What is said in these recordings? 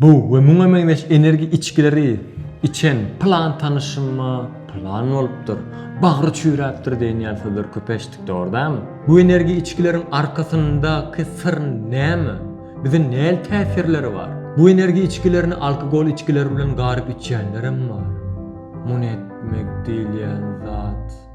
Bu we muňa meňzeş energi içgileri içen pylan tanyşyma pylan bolupdyr, bagry çüýräpdir diýen ýaly sözler köp eşitdik, dogry dälmi? Bu energi içgileriň arkasyndaky syr näme? Bize näli täsirleri bar? Bu energi içgilerini alkogol içgileri bilen garyp içýänlerem bar. Muny etmek diýilýän zat.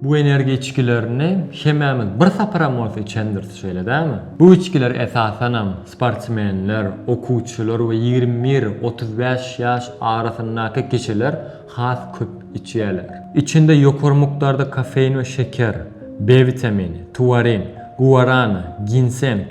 Bu energiýa içgilerini hemmämiz bir saparam bolsa içendiris, şeýle dälmi? Bu içgiler esasanam sportsmenler, okuwçylar we ýigrimi bir, otuz bäş ýaş arasyndaky kişiler has köp içýärler. Içinde ýokary mukdarda kofein we şeker, B witamini, tuarin, guarana, ginseng,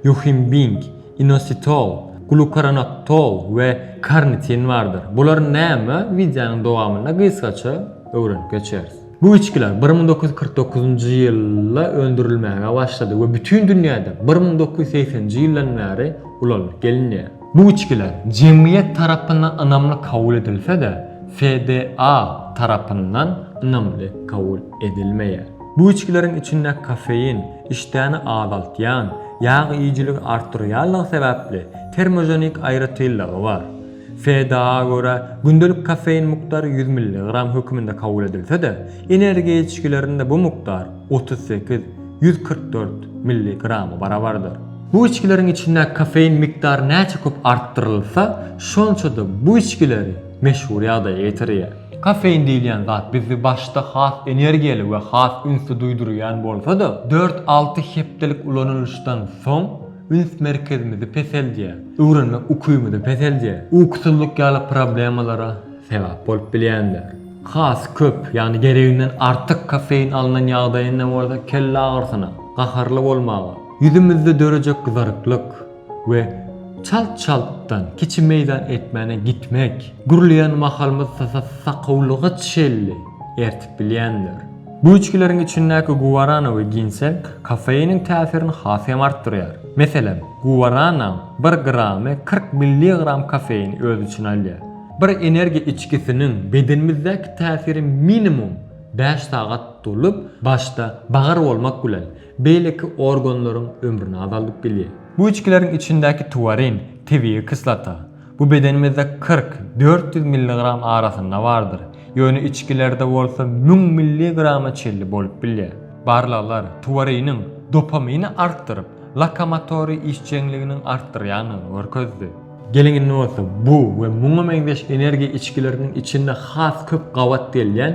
Ýuhinbing, inositol, glukoronoktol we karnitin bardyr. Bular näme? Wideonyň dowamynda gysgaça öwrenip geçeris. Bu içgiler bir müň dokuz ýüz kyrk dokuzynjy ýylda öndürilmäge başlady we bütin dünýäde bir müň dokuz ýüz segseninji ýyldan bäri ulanylyp gelinýär. Bu içgiler jemgyýet tarapyndan ynamly kabul edilse-de, FDA tarapyndan ynamly kabul edilmeýär. Bu içgileriň içinde kofein, Işdäni azaltýan, ýag iýijiligi artdyrýanlygy sebäpli termoženik aýratynlygy bar. FDA-a görä, gündelik kofein mukdary ýüz milligram höküminde kabul edilse-de, energiýa içgilerinde bu mukdar otuz sekiz, ýüz kyrk dört, milligrama barabardyr. Bu içgileriň içindäki kofein mukdary näçe köp artdyrylsa, şonça-da bu içgileri meşhur ýagdaýa ýetirýär. Kofein diýilýän zat bizi başda has energiýaly we has ünsli duýdurýan bolsa-da, dört-alty hepdelik ulanylyşdan soň üns merkezimizi peseldýär, öwrenmek ukybyny peseldýär, ukusyzlyk ýaly problemalara sebäp bolup bilýändir. Has köp, ýagny gereginden artyk kofein alnan ýagdaýynda bolsa kelle agyrysyna, gaharly bolmaga, ýüzümizde dörejek gyzaryklyk, we çalt-çaltdan kiçi meýdan etmäne gitmek, gürleýän mahalymyz sakawlyga çenli ertip bilýändir. Bu içgileriň içindäki guwarana we ginseng kofeiniň täsirini has hem artdyrýar. Meselem, guwaranaň bir gramy kyrk milligram kofeini öz içine alýar. Bir energiýa içgisiniň bedenimizdäki täsiri minimum bäş sagat dolup, başda bagyr bolmak bilen, Beýleki organlaryň ömrüni azaldyp bilýär. Bu içgileriň içindäki tuwarin, tebigy kislota. Bu bedenimizde kyrk, dört ýüz milligram arasynda bardyr. Ýöne içgilerde bolsa müň milligrama çenli bolup bilýär. Barlaglar tuwariniň dopamini artdyryp, lokomotory işjeňliginiň artdyrýandygyny görkezdi. Geliň indi bolsa bu we muňa meňzeş energiýa içgileriniň içinde has köp gabat gelýän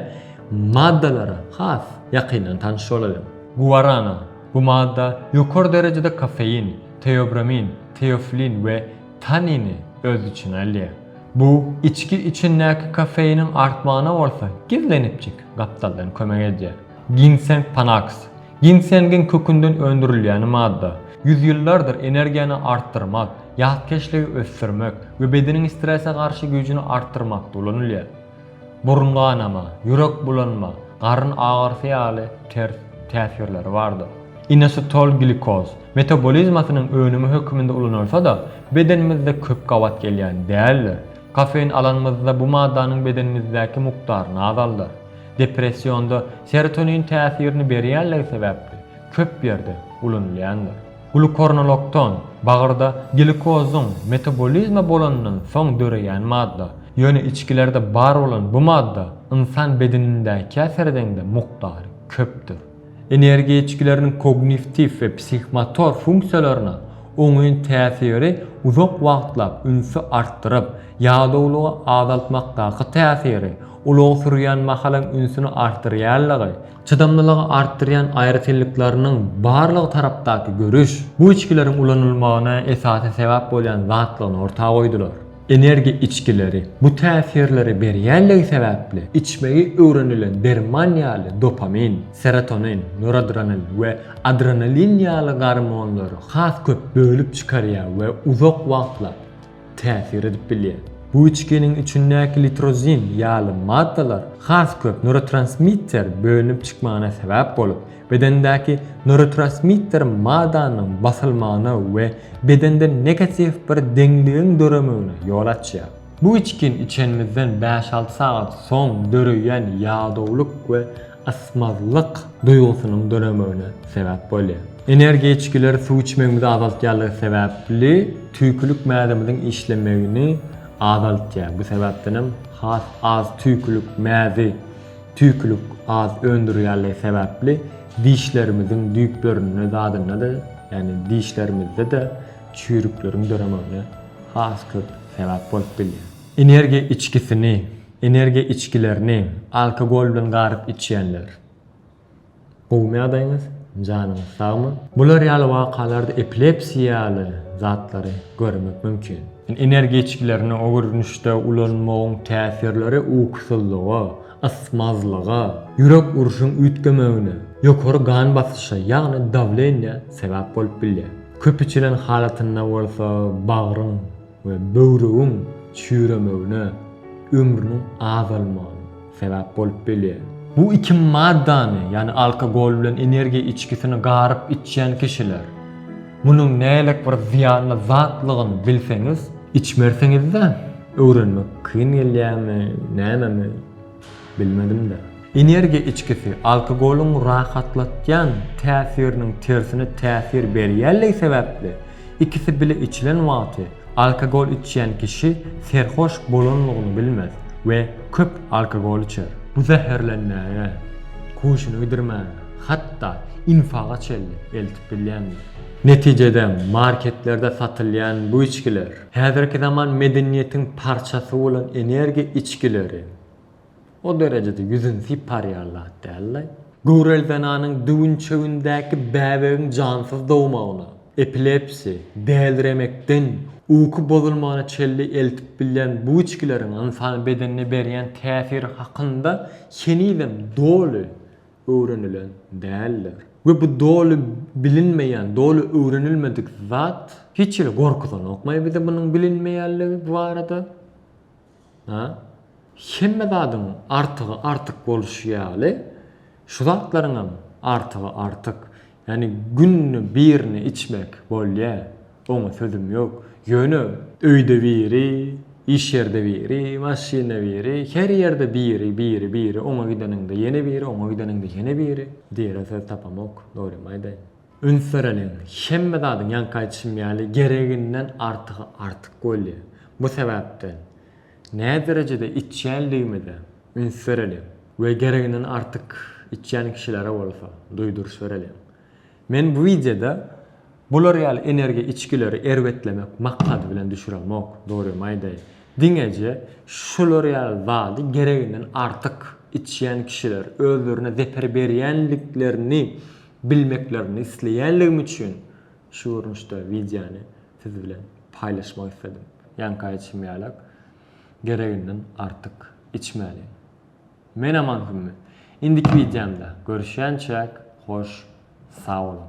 maddalara has ýakyndan tanyş bolalyň. Guarana, bu madda ýokary derejede kofein, teobramin, teoflin we tannini öz içine alýar. Bu içgi içindäki kofeiniň artmagyna bolsa gizlenipjik gapdaldan kömek edýär. Ginseng panaks, ginsengiň kökünden öndürilýäni madda, ýüz ýyllardyr energiýany artdyrmak, ýatkeşligi ösdürmek we bedeniň strese garşy güýjüni artdyrmakda ulanylýar. Burun ganama, ýürek bulanma, garyn agyrysy ýaly ters täsirleri bardyr. Inositol glikoz metabolizmasynyň önümi höküminde ulanylsa-da, bedenimizde köp gabat gelýän däldir. Kofein alanymyzda bu maddanyň bedenimizdäki mukdaryny azaldar. Depressionda serotonin täsirini berýänligi sebäpli köp ýerde ulanylýandyr. Glukornolokton, bagyrda glikozyň metabolizma bolandan soň döreýän madda. Ýöne içgilerde bar bolan bu madda ynsan bedenindäkiä seredeňde mukdary köpdür. Energiýa içgileriniň kognitiw we psihmotor funksiýalaryna oňyn täsiri uzak wagtlap ünsi artdyryp, ýadawlygy azaltmakdaky täsiri, ulag sürýän mahalyň ünsüni artdyrýanlygy, Çydamlylygy artdyrýan aýratynlyklarynyň barlygy tarapdaky görüş bu içgileriň ulanylmagyna esasy sebäp bolýan zatlygyny orta goýdular. Energiýa içgileri bu täsirleri berýänligi sebäpli, içmegi öwrenilen derman ýaly dopamin, serotonin, noradrenalin we adrenalin ýaly gormonlary has köp bölüp çykarýar we uzak wagtlap, täsir edip bilýär. Bu içginiň içindäki litrozin ýaly maddalar has köp norotransmitter bölünip çykmagyna sebäp bolup, bedendäki norotransmitter madanyň basylmagyna we bedende negatiw bir deňligiň döremegine ýol açýar. Bu içgini içenimizden bäş-alty sagat soň döreýän ýadawlyk we ysmazlyk duýgusynyň döremegine sebäp bolýar. Energiýa içgileri suw içmegimizi azaltýanlygy sebäpli tüýkülik mäzemiziň işlemegini azaltýar. Bu sebäpden hem has az tüýkülik mäzi tüýkülik az öndürýänligi sebäpli dişlerimiziň düýplerinde zadynda-da, ýagny dişlerimizde-de çüýrükleriň döremegine has köp sebäp bolup bilýär. Energiýa içgisini Energiýa içgilerini alkogol bilen garyp içýänler. Gowumy ýagdaýyňyz? Janyňyz sagmy? Bular ýaly wakalarda epilepsiýa ýaly zatlary görmek mümkin. Energiýa içgilerini o görnüşde ulanmagyň täsirleri ukusyzlyga, ysmazlyga, ýürek urşuň üýtgemegine, ýokary gan basyşa, ýagny dawleniýä sebäp bolup bilýär. Köp içilen halatynda bolsa bagryň we böwrügiň çüýremegine, ömrüniň azalmagyna sebäp bolup bilýär. Bu iki maddany, ýagny alkogol bilen energiýa içgisini garyp içýän kişiler, munuň nälik bir zyýanly zatlygyny bilseňiz, içmersiňiz-dä, öwrenmek kyn gelýärmi, nämemi? Bilmedim-de. Energiýa içgisi, alkogolyň rahatlatýan täsiriniň tersine täsir berýänligi sebäpli, ikisi bile içilen wagty alkogol içýän kişi serhoş bolanlygyny bilmez we köp alkogol içer. Bu zäherlenmäge, huşuny gidirmäge, hatda infaga çenli eltip bilýändir. Netijede, marketlerde satylýan bu içgiler, häzirki zaman medeniýetiň parçasy bolan energiýa içgileri. O derejede ýüzüni sypar ýaly zat däldi. Göwreli zenanyň düwünçegindäki bäbegiň jansyz dogmagyna, epilepsiýa, däliremekden, uky bozulmagyna çenli eltip bilýän bu içgileriň ynsan bedenine berýän täsiri hakynda henizem doly öwrenilen däldir. We bu doly bilinmeýän, doly öwrenilmedik zat hiç hili gorkuzanokmaý bizi munuň bilinmeýänligi barada. Ýa-da hemme zadyň artygy artyk bolşy ýaly, şu zatlaryň hem artygy artyk. Ýagny günde birini içmek bolýar, oňa sözüm ýok. Ýöne öýde biri, iş ýerde biri, maşynda biri, her ýerde biri, biri, biri, oňa gideniňde ýene biri, oňa gideniňde ýene biri diýere söz tapamok, dogrymy aýdaýyn. Üns bereliň, hemme zadyň, ýaňky aýdyşym ýaly, gereginden artygy artyk bolýar. Bu sebäpden, näderejede içýänligimize üns bereliň we gereginden artyk içýän kişilere bolsa duýduryş bereliň. Men bu wideoda bular ýaly energiýa içgileri erbetlemek maksady bilen düşüremok, dogrymy aýdaýyn. Diňeje şular ýaly zady gereginden artyk içýän kişiler özlerine zeper berýänliklerini bilmeklerini isleýänligim üçin şu görnüşde wideony siz bilen paýlaşmak isledim. Ýaňky aýtşym ýaly, gereginden artyk içmäli. Men Aman Hümmi. Indiki wideomda görüşýänçäk hoş sag boluň.